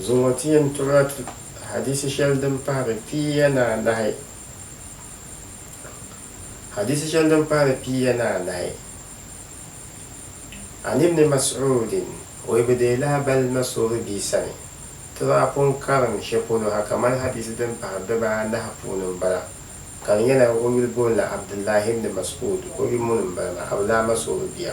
Zuŋɔ ti yɛn tɔri a ti hadiisi shɛli din pahiri piiya ni anahi. Hadiisi shɛli din pahiri piiya ni anahi, An Ibni Mas'uudin, o yi bi deei lahabali na soori bia sani, ti daa pun karim shɛ polo ha kamani hadiisi din pahiri di baa anahi puuni m-bala, ka di nyɛla o yuli booni la Abdullahi Ibni Mas'uud, o yumuni m-bala maa, Abulama soori bia.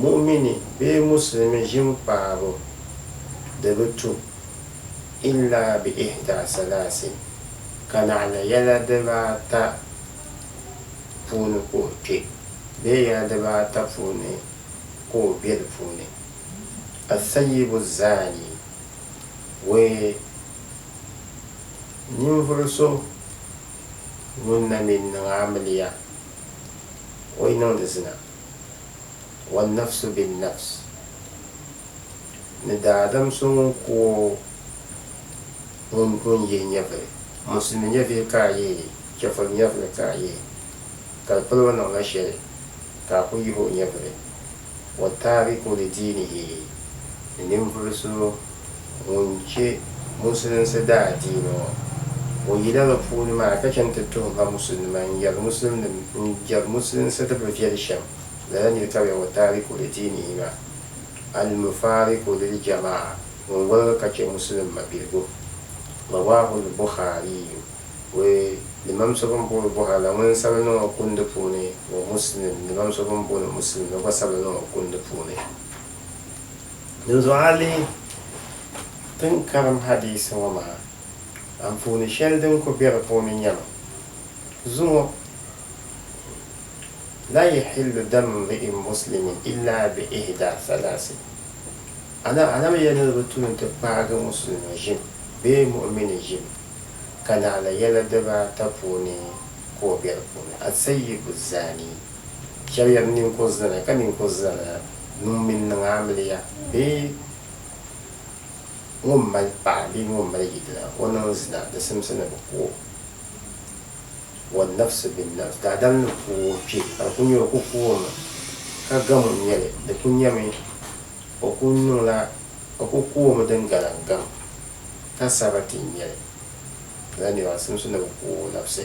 Mu'mini bee Musulimi ʒinkpaabu di bi tu illa bi ihda salasi ka naɣila yɛla dibaata puuni ka o kpe bee yɛla dibaata puuni ka o be di puuni, Ath-Thayyibu Zani, wee, ninvuɣu so ŋun na mi niŋ amiliya, o yi niŋdi zina. wannafsu binnafs, ni daadam so ŋun ku o ŋun o ni yihi nyɛvili. Musulimi nyɛvihi ka a yihi, chɛfuri nyɛvili ka a yihi, ka di polo niŋla shɛli ka a ku yihi o nyɛvili. Wa taariku li diinihi, ni ninvuɣu so ŋun chɛ Musulinsi daadiini ŋɔ. O yila bɛ puuni maa ka chani ti tuhi ba Musulinima n-yɛri Musulinim n-jɛri Musulinsi di bi viɛli shɛm lala nir ka bɛ wa taariku li diinihi maa, Al-Mufaariku lil Jama'a, ŋun woligi ka chɛ Musulim mabiligu. Rawaahul Bukhariyu, Wɛ limam so bɛn booni Buhari la ŋun sabili niŋ o kundi puuni, wa Musulim limam so bɛn booni Musulim la gba sabili niŋ o kundi puuni. Dinzuɣu a lihi ti ni karim hadiisi ŋɔ maa anfooni shɛli din ku be di puuni nyama, Zuŋɔ, Laa yahillu damu mri'in muslimin illa bi ihda thalaasi, Ana Anabi yɛli ni di bi tu n-ti paagi musulimi ʒim bee mu'umini ʒim ka naɣila yɛla dibaata puuni ka o be di puuni, As-sayyibu zani, Shɛb yɛli, Ninkur zani, ka ninkur zani nuu mini niŋ amiliya bee ŋun mali paɣa bee ŋun mali yidana, o niŋ zina, di simsi ni bɛ ku o. Wannafsi binnafs, daadam ni ku o kpe, ka di kul nyɛ o ku ku o mi, ka gam o nyɛli, di kul nyɛmi o ku niŋla, o ku ku o mi din galan gam, ka sabati n-nyɛ li, lala niriba di simsi ni bɛ ku o nafsi.